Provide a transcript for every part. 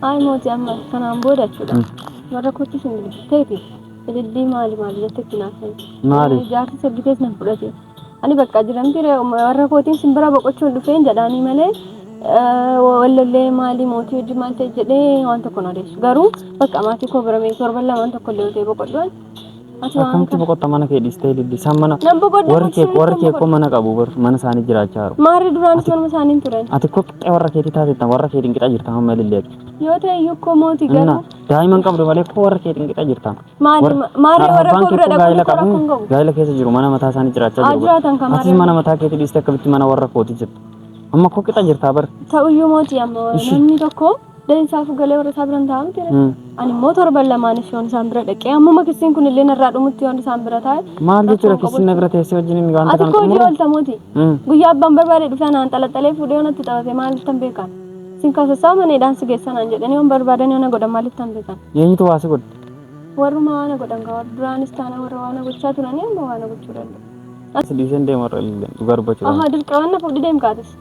Ayi mooti amma kanaan booda jechuudha. Warra kootti isin bilbilteeti. Ilillii maali maali jette itti naafan. Maali? Jaarsi sabbitees nan fudhate. Ani bakka jiramti warra kootiin isin bira boqochuun dhufeen jedhaanii malee wallallee maali mootii hojii maal ta'e jedhee waan tokko na odeessu. Garuu bakka maatii koo bira mee torban lamaan tokko illee ta'e boqodhuun Ati waan Akkamitti kana. boqotta mana kee dhiistee ililli. Isaan mana Nan boqodha warri kee boqsuu warri kee koo mana qabu bar mana isaanii jiraachaa jiru. Maarri duraanis Ati- manuma isaanii hin turan. Ati koo qixxee warra keetii taateettan warra keetiin qixa jirta amma ilillee ati. Yoo ta'e iyyuu koo mooti Inna garuu daa'imman qabdu malee koo warra keetiin qixa jirta. maali Warri- ma- maarree warra Abbaan koo kee bira koo gaa'ela dhaquu qabu hin qabu. gaa'ela keessa jiru mana mataa isaanii jiraachaa Haa jiru. bar. jiraatan kan Atis maarree. mana mataa keetii dhiistee akkamitti mana warra kootii jirta. Amma koo qixa jirtaa bar. Ta'uyyuu mooti amma Ishii. namni tokko Deen isaafuu galee warra isaa biran taa'aa miti ree. Ani immoo torban lamaaniif yoon isaan bira dhaqee ammuma kissiin kun illee narraa dhumutti yoon isaan bira taa'e. Maal jechuudha rakkoon kissiin na qabu. bira teessee wajjin inni wanta Ati kana koo hojii xumuru? oolta mooti. Mm. Guyyaa abbaan barbaade dhufee anaan xalaxalee fuudhee yoo natti taphate maalittan beekan? Sin kaasassaa maneedhaan si geessan aan jedhanii yoon barbaadan yoo na godhan maalittan beekan? Eenyutu waa si godhe? Warruma waan na godhan ga'a. Duraanis taana warra waan na gochaa turanii amma waan na gochuu danda'u. As dhiiseen deemu irra illee dhugaa dubbachuudhaan. Ahaa dirqamaan na fuudhi deemkaatis.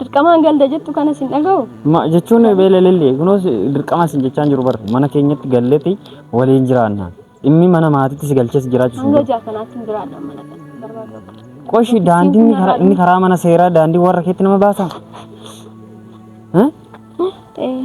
Dirqamaan galda jettu kana sin dhagahu. Ma jechuun beelelellee kunuus dirqama sin jechaan jiru bar mana keenyatti galleeti waliin jiraanna. Dhimmi mana maatiitti si galchees jiraachuu Hanga jaa kanaatti hin jiraadha mana kana barbaada. Qoshi daandiin inni karaa- inni karaa mana seeraa daandii warra keetti nama baasa. Eh? Eh,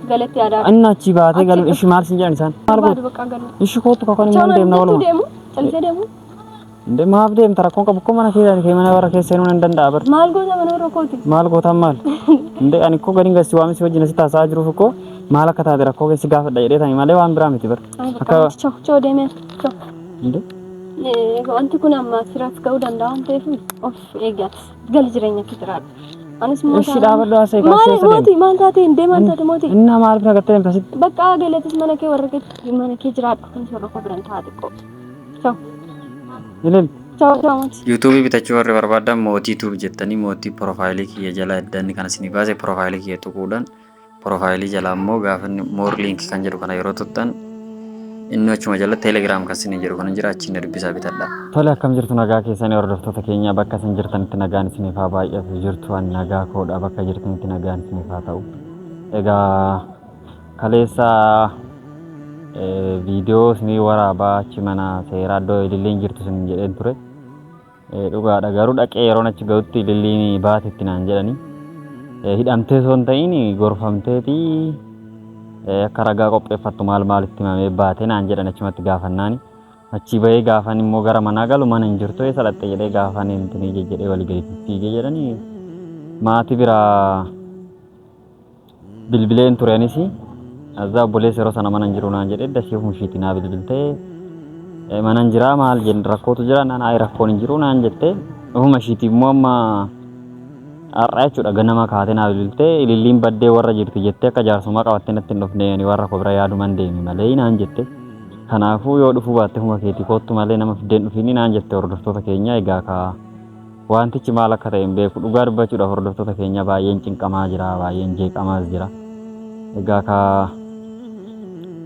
Galatti aadaa. Anna achi baatee galu ishi maal sin jedhan isaan. Maal Barbaadu gootu? bakka galu. Ishi kootu kakon immoo hin deemna Chawaan waluma. deemu. Callisee deemu. Inde maaf deemta rakkoon qabu akkuma mana keessaa kee mana warra keessa seenuu nan danda'a bar. Maal goota mana warra kooti. Maal gootaan maal? Inde ani koo gadiin gasti waamni si wajjin asitti haasa'aa jiruuf koo maal akka taate rakkoo keessi gaafadha jedhee taa'e malee waan biraa miti bar. Ay, bakka Akka choo choo deemee choo. inde Eh, Wanti kun amma asirratti ga'uu danda'a waan ta'eef of eeggatu. Gali jireenya kee jiraadhu. Anis immoo Ishii dhaabadhu haasa'e kan Maal seessa mooti maal taate hin deemaan taate mooti. Inni nama maaliif nagattee deemta sitti? Bakka galatis mana kee warra kee mana kee jiraadhu. Anis warra koo biran taa'aa xiqqoo. Chao Ilil. chao chao mooti. Yuutuubii bitachuu warri barbaadan mootii tuub jettanii mootii piroofaayilii kiyya jala eddanni kan isinii baase piroofaayilii kiyya tuquudhaan Porofaayilii jalaa immoo gaafa inni more link kan jedhu kana yeroo tuttan inni achuma jala telegram kan isin jedhu kana jira achiin dubbisaa bitadha. Tole akkam jirtu nagaa keessanii hordoftoota keenya bakka isin jirtanitti nagaan isiniif haa baay'atu jirtu an nagaa koodha bakka jirtanitti nagaan isiniif haa ta'u. Egaa kaleessa viidiyoo isinii waraabaa achi mana seeraa iddoo ililleen jirtu isin jedheen ture. Dhugaadha garuu dhaqee yeroon achi ga'utti ililliin baatetti naan jedhani. Hidhamtee osoo hin ta'iin gorfamteeti akka ragaa qopheeffattu maal maalitti himamee baate naan jedhan achumatti gaafannaani. Achii bahee gaafan immoo gara manaa galu mana hin jirtu eessa dhaqxe jedhee gaafan intinii jejjedhee walii gadi fiigee jedhani maatii biraa bilbileen ture anis azaa obboleessa yeroo sana manan jiru naan jedhe dasii humshiiti naa bilbilte Eh, manan jiraa maal jenn rakkootu jira naan ayi rakkoon hin jiru naan jette ofuma ishiiti immoo amma har'a jechuudha ganama kaatee naa bilbilte ililliin baddee warra jirti jettee akka jaarsummaa qabattee natti hin dhufne ani warra koo bira yaaduman deeme malee naan jette kanaafuu yoo dhufuu baatte huma keetii koottu malee nama fiddeen dhufiini naan jette hordoftoota keenya egaa kaa Waantichi maal akka ta'e hin beeku. Dhugaa dubbachuudha hordoftoota keenya baay'een cinqamaa jira, baay'een jeeqamaas jira. Egaa ka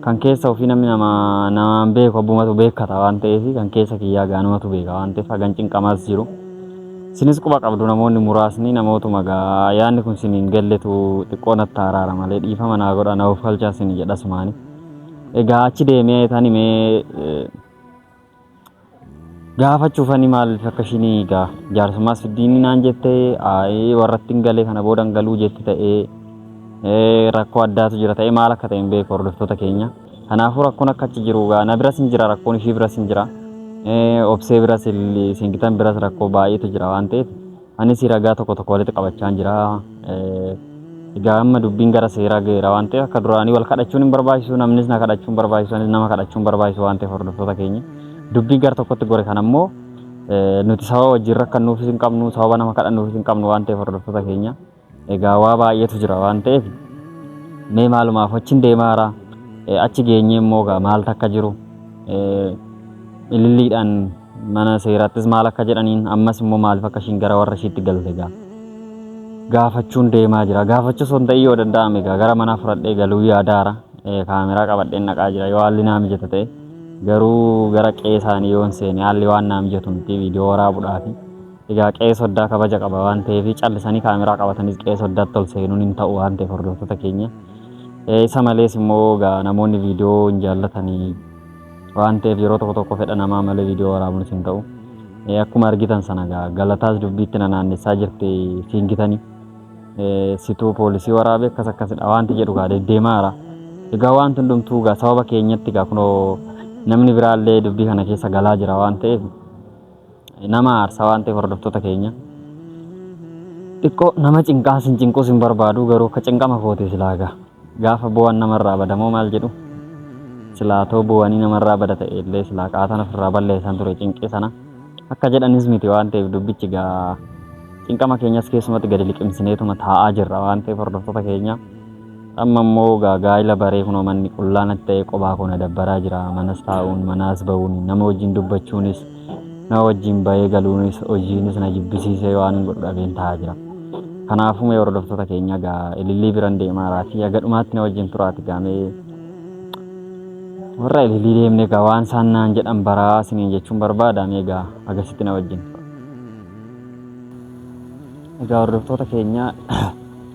kan keessa ofii namni nama namaan beeku abbumatu beekkata waan ta'eef kan keessa kiyyaa gaanumatu beeka waan ta'eef hagan cinqamaas jiru. Isinis quba qabdu namoonni muraasni namootuma gaa yaanni kun sin hin galletu xiqqoo natti araara malee dhiifama naa godha na ofkalchaa sin jedha sumaani. Egaa achi deemee tani mee Gaafachuuf ani maaliif akka ishiin egaa jaarsummaa siddiinni naan jette aayee warratti hin galee kana booda hin galuu jetti ta'ee ee, rakkoo addaatu jira ta'ee maal akka ta'e hin beeku hordoftoota keenya. Kanaafuu rakkoon akka achi jiru egaa na biras hin jira rakkoon ishii biras hin jira ee, obsee biras illi- singitan biras rakkoo baay'eetu jira waan ta'eef Anis ragaa tokko tokko walitti qabachaan jira. Egaa amma dubbiin gara seeraa ga'eera waan ta'eef akka duraanii wal kadhachuun hin barbaachisu namnis na kadhachuun barbaachisu anis nama kadhachuun barbaachisu waan ta'eef hordoftoota keenya. Dubbiin gara tokkotti gore kan ammoo nuti sababa wajjin rakkannuufis hin qabnu sababa nama kadhannuufis hin qabnu waan ta'eef hordoftoota keenya. Egaa waa baay'eetu jira waan ta'eef mee maalumaaf achiin deemaara achi geenyee immoo egaa maal takka jiru ililliidhaan mana seeraattis maal akka jedhaniin ammas immoo maaliif akka ishiin gara warra ishiitti galte egaa gaafachuun deemaa jira gaafachuu osoo hin ta'in yoo danda'ame egaa gara manaa fudhadhee galuu yaadaara kaameraa qabadheen naqaa jira yoo haalli naa mijata ta'e garuu gara qe'ee isaanii yoo hin seene haalli waan naa mijatu miti viidiyoo waraabuudhaafi. Egaa qe'ee soddaa kabaja qaba waan ta'eef callisanii kaameraa qabatanis qe'ee soddaatti ol seenuun hin ta'u waan ta'eef hordoftoota keenya. Isa malees immoo egaa namoonni viidiyoo hin jaallatanii waan ta'eef yeroo tokko tokko fedha namaa malee viidiyoo waraabuunis hin ta'u. Akkuma argitan sana egaa galataas dubbiitti na naannessaa jirti fiingitanii. Situu poolisii waraabe akkas akkasidha wanti jedhu egaa deddeemaa jira. Egaa wanti hundumtuu egaa sababa keenyatti egaa kunoo namni biraallee dubbii kana keessa galaa jira waan ta'eef nama aarsa waan ta'eef hordoftoota keenya. Xiqqoo nama cinqaa sin cinquus hin barbaadu garuu akka cinqama kooti silaa gaa. Gaafa bu'an namarraa bada moo maal jedhu? Silaa too bu'anii namarraa bada ta'e illee silaa qaatan ofirraa balleessan ture cinqii sana. Akka jedhanis miti waan ta'eef dubbichi gaa cinqama keenyas keessumatti gadi liqimsineetuma taa'aa jirra waan ta'eef hordoftoota keenya. Amma immoo gaa gaa'ila baree kunoo manni qullaa natti ta'ee qophaa koo na dabbaraa jira. Manas taa'uun, manaas ba'uun, nama wajjin dubbachuunis, nama wajjin ba'ee galuunis, hojiinis na jibbisiisee waanin godhu dhabeen taa'aa jira. Kanaafuu mee hordoftoota keenya gaa ilillii biran deemaaraatii haga dhumaatti na wajjin turaati gaa mee warra ilillii deemne gaa waan isaan naan jedhan baraa isiniin jechuun barbaada mee gaa agasitti na wajjin tura. Egaa hordoftoota keenya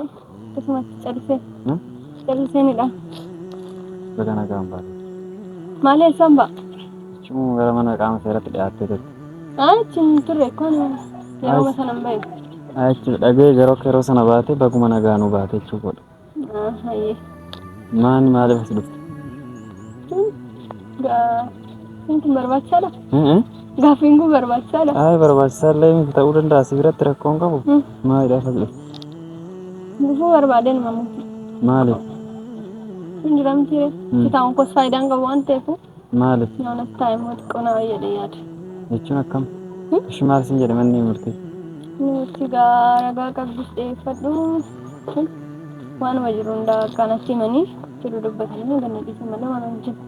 Akkasumatti callisee. Callisee ni dha. Baga nagaan baate. Maalee isaan ba'a? Jechuun gara mana qaama seeratti dhiyaattee turte. Achi hin turre kun yeroo sana hin bahe. Achi dhagee yeroo yeroo sana baate baguma nagaanuu baate jechuu godha. Hayyee. Maani maaliif as dhufte? Gaa Kun barbaachisaadha. Gaaffiin kun barbaachisaadha. Ayi barbaachisaa illee miti ta'uu danda'a si biratti rakkoon qabu. Maalidha fadhi? Gufuu barbaadeen mamu. Maali? Hin jiramti. Kitaabni kun faayidaan qabu waan ta'eef Maali? yoona taa'e immoo xiqqoo nama jedhee yaada. Jechuun akkam? Ishi maal sin jedhe manni murtii? Nuti gaa ragaa qabdus dhiyeeffadhu. Waanuma jiru hundaa akkaan asii manii jiru dubbatanii ganna dhiisan malee waan hojjetu.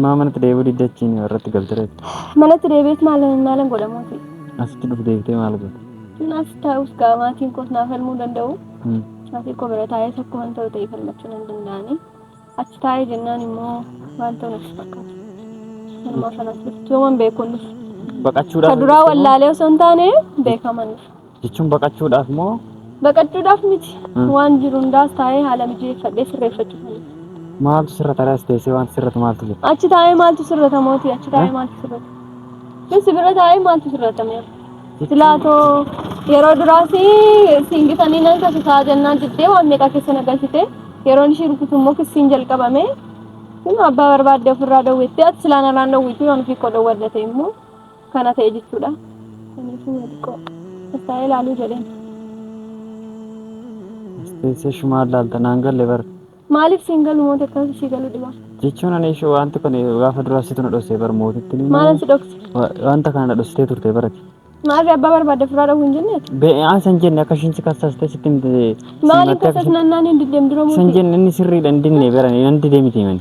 Maa manatti deebi'uu didda achiin irratti galte reefu. Manatti deebi'eet maal maalan godhamuuti? Asitti dhuf deebitee maal goote? Naaf taa'us gaa maatiin koos naaf falmuu danda'u. Hmm. Maatiin koo bira taa'ee tokko waan ta'u ta'e falmachuu nan danda'ani. Achi taa'ee jennaan immoo waan ta'u natti fakkaata. Manuma kanatti dhuftu yooman beekuun dhufu. Baqachuudhaaf. Ka duraa wallaalee osoo hin taane beekaman dhufu. Jechuun baqachuudhaaf moo? Baqachuudhaaf miti. Hmm. Waan jiru hundaas taa'ee haala mijeeffadhee sirreeffachuufani. Maaltu sirra taraas teessee waan sirratu maaltu jira? Achi taa'ee maaltu sirrata mootii? Achi taa'ee Eh? maaltu sirrata? Kun si bira taa'ee maaltu sirrata mee? Silaatoo yeroo duraas siin gitanii nan kasisaa jennaan diddee waan meeqa keessa na galchite. Yeroon ishii rukutu immoo kissiin jalqabame. Kun abbaa barbaadde ofirraa dawwettee ati silaa narraan dawwiitu yoon ofii koo dawwadhate immoo. kana ta'e jechuudha. Kaniifuu yoo xiqqoo tattaa'ee ilaaluu jedheen. Teessee shumaa ilaalta naan galle bar. Maaliif siin galu mooti akkamitti sii galu dhibaa? Jechuun ani ishee wanti kun gaafa duraa situ na dhossee bar mootitti ni Maalan si dhokse? wanta kana na dhossitee turte barati. Maarree abbaa barbaadde furaa dhowwu hin jennee? Bee aan san jenne akka ishiin si kassastee sitti himte. Maaliin kassas nannaan hin diddeem dura San mootii? jenne inni sirriidha hin dinne barani nan didee miti himani.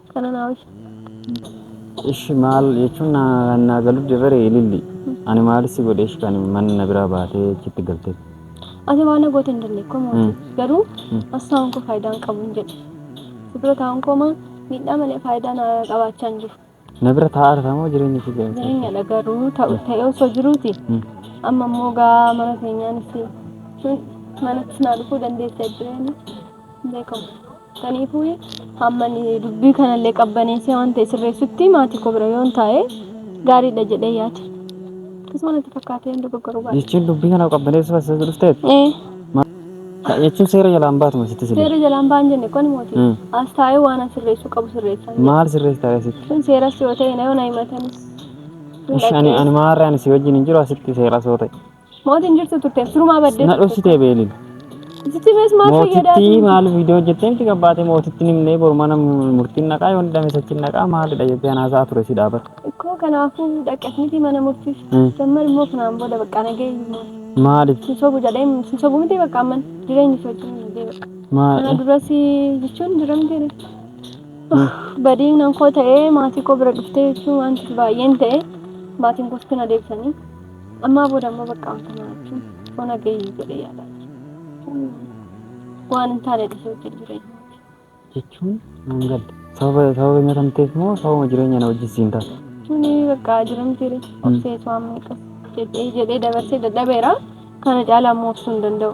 Kananaawis. Ishi maal jechuun naa naa galu dibare ililli. Ani maal si godhe ishi kan mana na biraa baatee achitti galtee. Ati waan na goote hin dandeenye koo mootii. Mm. Garuu Mm. as taa'uun koo faayidaa hin qabu hin jedhe. Si bira taa'uun koo maa miidhaa malee faayidaa na qabaachaa hin jiru. Na bira taa'aa jirta moo jireenya ishee keessa? Jireenyadha garuu ta'u ta'ee osoo jiruuti. Mm. Amma immoo gaa mana keenyaanis sun manatti naa dhufuu dandeessi addunyaa hin beekamu. Kaniifuu hamma dubbii kanallee qabbaneessee waan ta'e sirreessutti maatii koo bira yoon taa'e gaariidha jedhee yaade. Akkasuma natti fakkaatee hin dogoggoruu baadhe. Jechuun dubbii kana qabbaneessuu as isa dhufteet. Ee. Kana jechuun seera jalaan baatuma sitti siree. Seera jalaan ba'an jenne koni mootii. Mm. As taa'ee waan an sirreessuu qabu sirreessan. jedhe. Maal sirreessi taa'ee sitti? Sun seeras yoo ta'e na yoo na himatanis. Ish ani ani maarree ani si wajjin hin jiru asitti seeras yoo ta'e. Mootiin jirtu turte sirumaa baddee. Na dhoksitee beelil. Sitti mees maal fayyadaa? Mootittii maal viidiyoo hojjettee miti qabbaatee mootittiin himnee boru mana murtiin naqaa yoo hidhame sachiin naqaa maalidha jettee anaasaa ture si dhaabar. Ikkoo kanaafuu dhaqqasnitii mana murtiif. Mm. Dammar immoo kanaan booda baqqaa nagayyu. Maaliif? Sin sobu jedhee sin sobu miti bakka amman jireenyi si wajjin hin deebi'a. Kana Maal? duras jechuun diramteedha. Badiin nan koo ta'ee maatii koo bira dhuftee jechuun wanti baay'een ta'e maatiin koos na deebisanii. Ammaa booda amma bakka wanta nyaachuun ona gahii jedhee yaadaa jira. Waan hin taane dhisee hojjetu jireenya. jechuun nan gadda. Sababa sababa nyaata hin ta'eef moo sababa jireenya na wajjin siin taate? Tuni bakka jiran jire obseetu amma eegas jedhee jedhee dabarsee dadhabeera. Kana caalaa immoo obsuu hin danda'u.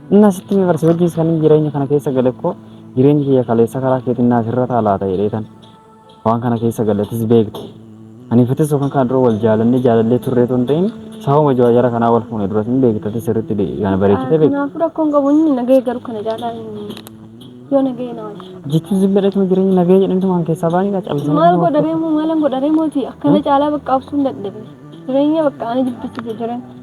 Inni asitti mee barsi wajjin kan jireenya kana keessa gale koo jireenyi kiyya kaleessa karaa keetiin naaf irra taalaata jedheetan waan kana keessa galetis beekte aniifatis yookaan kan dura wal jaalannee jaalallee turree tun ta'in sababa jara kanaa wal fuune duras hin beektatis sirriitti kana bareechitee beekte. Kanaafuu rakkoon qabu inni nagahee garuu kana caalaa yoo nagahee na wajji. Jechuun zibbadhatuma jireenyi nagahee jedhamtu waan keessaa baanii dha callisanii. Maal godharee moo maalan godharee mooti akkana caalaa bakka obsuun dadhabe jireenya bakka ani jibbisiise jireenya.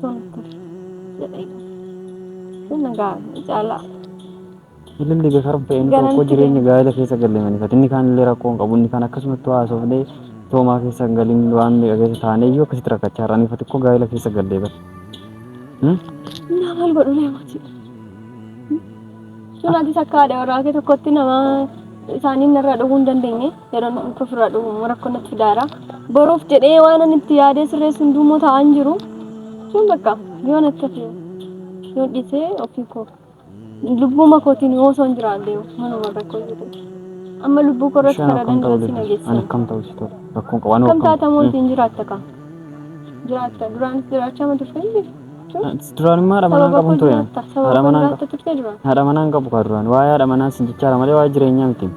Sun ture jedhee sun egaa ni caalaa Ililli beekaram ta'een tokko Garanti jireenya deema. gaa'ela keessa galle manifate. Inni kaan illee rakkoo hin qabu. Inni kaan akkasumatti waa haasofnee toomaa keessa hin galin waan meeqa keessa taanee iyyuu akkasitti rakkachaa irra anifate koo gaa'ela keessa gallee bara. Hmm? naa maal godhu lee mootii sun atis akka haadha warraa kee tokkotti nama isaaniin narraa dhowwuu hin dandeenye yeroo namatti ofirraa dhufu immoo rakkoo natti fidaara. Boruuf jedhee waan ani itti yaadee sirreessu hunduu immoo taa'aa hin jiru. Jechuun bakka yoo natti hafe yoo dhiisee ofii koo lubbuma kootiin yoo osoo hin jiraadhee manuma rakkoo jiru. Amma lubbuu koo irratti kana danda'u si nageessa. Ani akkam ta'u si tola? Rakkoon qabu. Akkam taata moo ittiin jiraatta kaa? Jiraatta duraanis jiraachaa ma turte hin jirtu? Duraan immoo haadha manaa qabu ture. Haadha manaa haadha manaa hin qabu kaa duraan. Waa'ee haadha manaa sin jechaara malee waa'ee jireenyaa miti.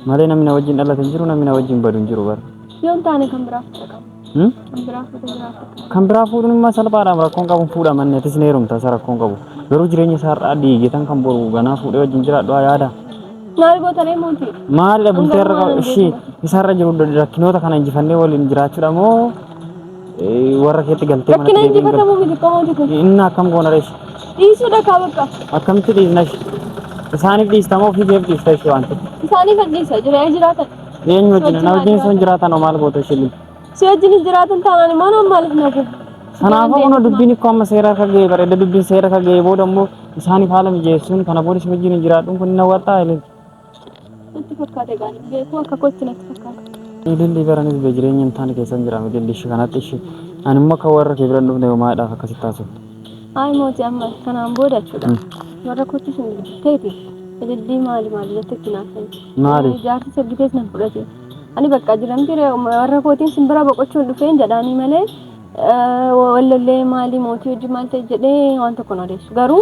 Malee namni na wajjin dhalate hin jiru namni na wajjin badu hin jiru bara. Yoo hin taane kan biraa fuudha qabu. Hmm? Kan biraa fuudha jiraatu. Kan biraa fuudhuun immoo salphaadhaam rakkoon qabu fuudha manni atis ni heerumta isa rakkoon qabu. Garuu jireenya isaa har'aa diigetan kan boru ganaa fuudhee wajjin jiraadhu haa yaada. Maal goota ree mootii? Maalidha bultee irra Hangaruu waan ishii hin isaarra jiru rakkinoota kana injifannee waliin jiraachuudha moo Warra keetti galtee Bakki manatti na deebiin injifatamu miti qomooti kun. galtee. Inni akkam goona reessi. Dhiisuudha kaa bakka. Akkamitti dhiisna ishi? Isaaniif dhiista moo ofii keef dhiista ishi wanti? Isaanii kan dhiisa jira yoo jiraatan. Eenyu wajjin? Na wajjin sun jiraatan hoo maal gootu ishi lili? Si wajjin hin jiraatan taanaan immoo nama maaliif na gubu? Kanaafuu kunoo Deebisu. dubbiin koo amma seera akka ga'e bareeda dubbiin seera akka ga'e booda immoo isaaniif haala mijeessuun kana booda si wajjin hin jiraadhuun kun hin hawwataa ilili. Natti fakkaata egaa hin beeku akka kootti natti fakkaata. Ililli baranis be jireenya hin taane keessan jira ililli ishi kanatti ishi ani immoo akka warra kee bira hin dhufne maadhaaf akkasitti taasifte. Ayi mooti amma kanaan booda jechuudha. Warra kootti sun ta'eeti ilillii maali maali natti itti naafsan. Maali? Jaarsi saggitees nan fudhate. Ani bakka jiramti warra kootiin sin bira boqochuun dhufeen jedhaanii malee wallollee maali mootii hojii maal ta'e jedhee waan tokko na odeessu. Garuu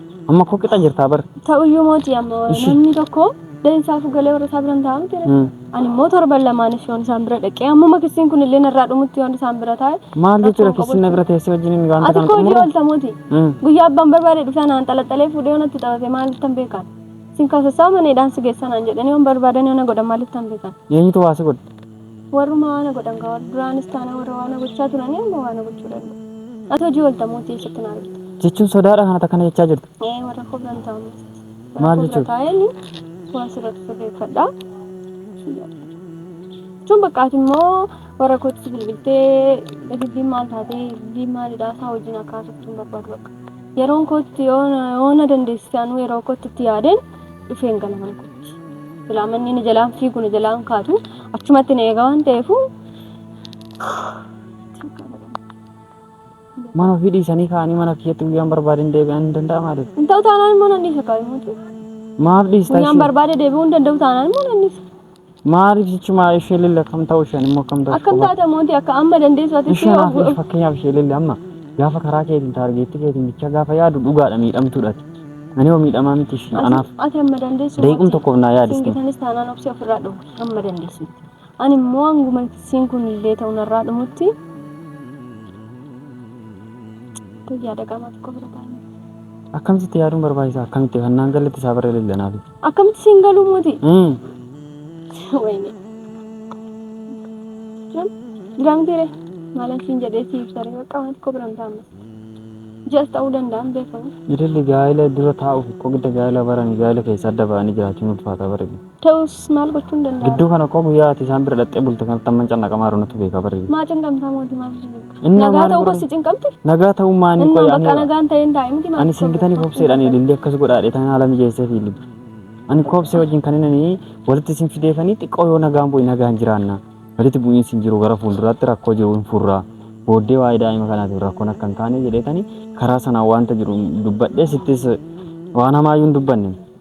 Amma koo qixa jirtaa bar. Ta'uyyuu mootii amma Ishi. namni tokko deensaaf galee warra isaa bira hin taa'amu jira. Mm. Ani immoo torban lamaanis yoon isaan bira dhaqee ammuma kissiin kun illee narraa dhumutti yoon isaan bira taa'e. Maal jechuudha rakkoon kissinna qabu. bira teessee wajjin inni wanta Ati kana koo hojii xumuru? oolta mootii. Mm. Guyyaa abbaan barbaade dhufee naan xalaxalee fuudhee yoon itti taphate maalittan beekan. Sin kaasessaa maneedhaan si geessanaan jedhanii yoon barbaadan yoona godhan maalittan beekan. Eenyutu waa si godhe? Warruma waana godhan kaa warra duraanis taana warra waana gochaa turanii amma waana gochuu danda'u. Ati hojii oolta mootii eessatti na argita? Jechuun sodaadha kan ati akkana jechaa jirtu. Ee warra koo biran taa'u mootii. Warra Maal koo bira jechuudha? taa'eeni waan sirratti sirreeffadha. Jechuun bakka ati immoo warra kootti bilbiltee dubbiin maal taatee dubbiin maalidha isaa wajjin akkaasoftuun barbaadu bakka. Yeroon kootti yoo na- yoo na dandeessise anuu yeroo kootti itti yaadeen isheen gala mana kootti. Silaa manni inni jalaan fiigu na jalaan kaatu achumatti na eegaa waan ta'eefuu. Mana ofii dhiisanii kaanii mana kiyyatti guyyaan barbaadeen deebi'an hin danda'amu maaliif? Hin ta'u taanaan immoo nan dhiisa kaayuu mootii. Maaf dhiistaa Guyyaan ishee? barbaade deebi'uu hin danda'u taanaan immoo nan dhiisa. Maaliif jechumaa ishee lille akkam ta'u isheen immoo akkam ta'u Akkam taata mootii akka amma dandeessu ati ishee Isheen hafe fakkeenyaaf ishee lille amma gaafa karaa keetiin taargeetti keetiin bicha gaafa yaadu dhugaadha miidhamtuudhaati. Ani hoo miidhamaa miti ishee anaaf ati amma dandeessu daqiiqum mootii. tokkoof naa yaadiste. Singitanis taanaan obsi ofirraa dhumu amma dandeessutti. Ani immoo hanguma siin kun illee ta'u narraa dhumutti tayyaa dhaqaa maatii koo bira taa'anii. Akkamitti yaaduun barbaachisaa akkamitti kan naan galatti isaa barree lille naaf. Akkamitti siin galuu mootii? Wayne. Jam, giraam tere. Maalan siin jedhee siif sare bakka waan xiqqoo biran taa'ama. Jas ta'uu danda'an beekamu. Idilli gaa'ila dura taa'uuf koo gidda gaa'ila barani gaa'ila keessa adda ba'anii jiraachuun ulfaataa bareedu. Ta'us maal gochuun danda'a? Gidduu kana koo guyyaa ati isaan bira dhaqxee bulte kanatti amman cannaqamaa jiru natu beekaa bareedu. Maa cindhamtaa mootii maal jedhu? Innaa Nagaa maal ta'uu godhan? koo si cinqamte? Nagaa ta'uu maanii Innaa qoy bakka ani nagaan ta'ee hin taa'e miti maal ani singitani tokko- kobseedhaan ilillee akkas godhaadhe tan haala mijeessee fi ilillee. Ani kobsee wajjin kan inni walitti isin fideefanii xiqqoo yoo nagaan bu'e nagaan jiraanna. Walitti bu'iinsi hin jiru gara fuulduraatti rakkoo jiru hin furra. Booddee waa'ee daa'ima kanaatiif rakkoon akka hin taane jedheetani karaa sanaan wanta jiru dubbadhee sittis waan hamaayyuu hin dubbanne.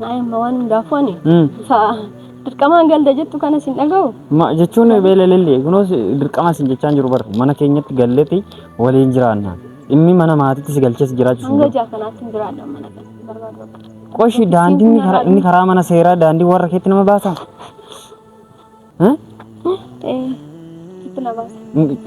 Daa'imma waan hundaafuu ani Mm. sa'a dirqamaan galda jettu kana sin dhaga'u. Ma jechuun beelelellee kunuus dirqama isin jechaa hin jiru bar mana keenyatti galleeti waliin jiraanna dhimmi mana maatiitti si galchees jiraachuu Hanga ja'a kanaatti hin jiraadha mana kana barbaadu akka. qoshi daandii inni karaa inni karaa mana seeraa daandii warra keetti nama baasa Hmm? Ta'ee itti na baasa.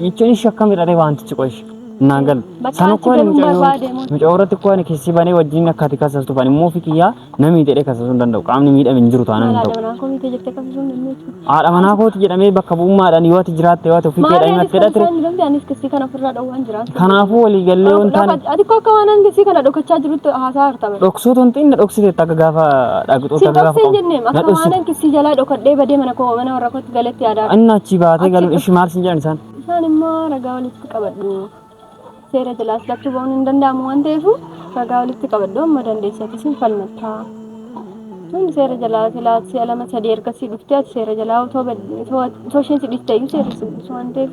Jechuun ishee akkamidha ree wantichi qoshi. Naan galu. Bakka Sana ati koo ani galuu mucayyoo barbaade moo- mucayyoo irratti koo ani keessi banee wajjin akka ati kasastuuf ani immoo ofii kiyyaa namni jedhee kasasuu hin danda'u. Qaamni miidhame hin jiru taanaan hin Haadha ta'u. manaa koo miite jettee qabsisuu hin dandeessu. Haadha manaa kooti jedhamee bakka bu'ummaadhaan yoo ati jiraatte yoo ati ofii kee Maali anis dhahimattee kan dhatte isaan hin dandeenye anis kissii kana ofirraa dhowwee waan jiraatu. Kanaafuu waliigallee waan taane Ati koo akka waan hangisii kana dhokachaa jirutti haasaa harta bara. dhoksuu tun xiinna dhoksiteetta akka gaafa dhaqxuutti Siin akka gaafa dhokseen jenneem na akka waan dhoksite. hangisii jalaa dhokadhee badee mana koo mana warra kootti galetti yaadaa. Inni achii baatee Achi galuun dhuf- ishii maal siin jedhan isaan? Isaan immoo ragaa walitti qabadhu. Seera jalaas lachuu ba'uun hin danda'amu waan ta'eef ragaa walitti qabadhu amma dandeessatis hin falmattaa. Tun seera jalaa silaa si'a lama sadii ergasii dhuftee ati seera jalaa otoo bad- otoo otoo isheen si dhiftee iyyuu seerri si buusu waan ta'eef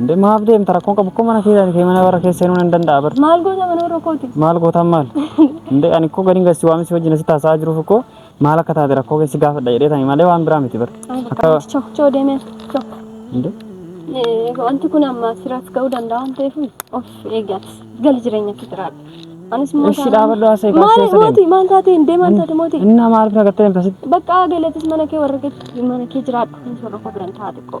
Inde maaf deemta rakkoon qabu akkuma mana keessaan kee mana warra keessa seenuu nan danda'a bar. Maal goota mana warra kooti? Maal gootaan maal? Inde ani koo gadiin gasi waamni si wajjin asitti haasa'aa jiruuf koo maal akka taate rakkoo keessi gaafadha jedhee tani malee waan biraa miti bar. Akka Choo choo deemee choo. inde Eh, Wanti kun amma siraas ga'uu danda'a waan ta'eef of eeggatis gali jireenya kee jiraadha. Anis immoo Ishi taanaan- dhaabadhu haasa'e Maal kaasee sadeen. mootii maal taatee hin deeman taate mootii? Innaa maaliif nagattee deemta sitti? Bakka galatis mana kee warra kee mana kee jiraadhu. Warra koo biran taate qoo.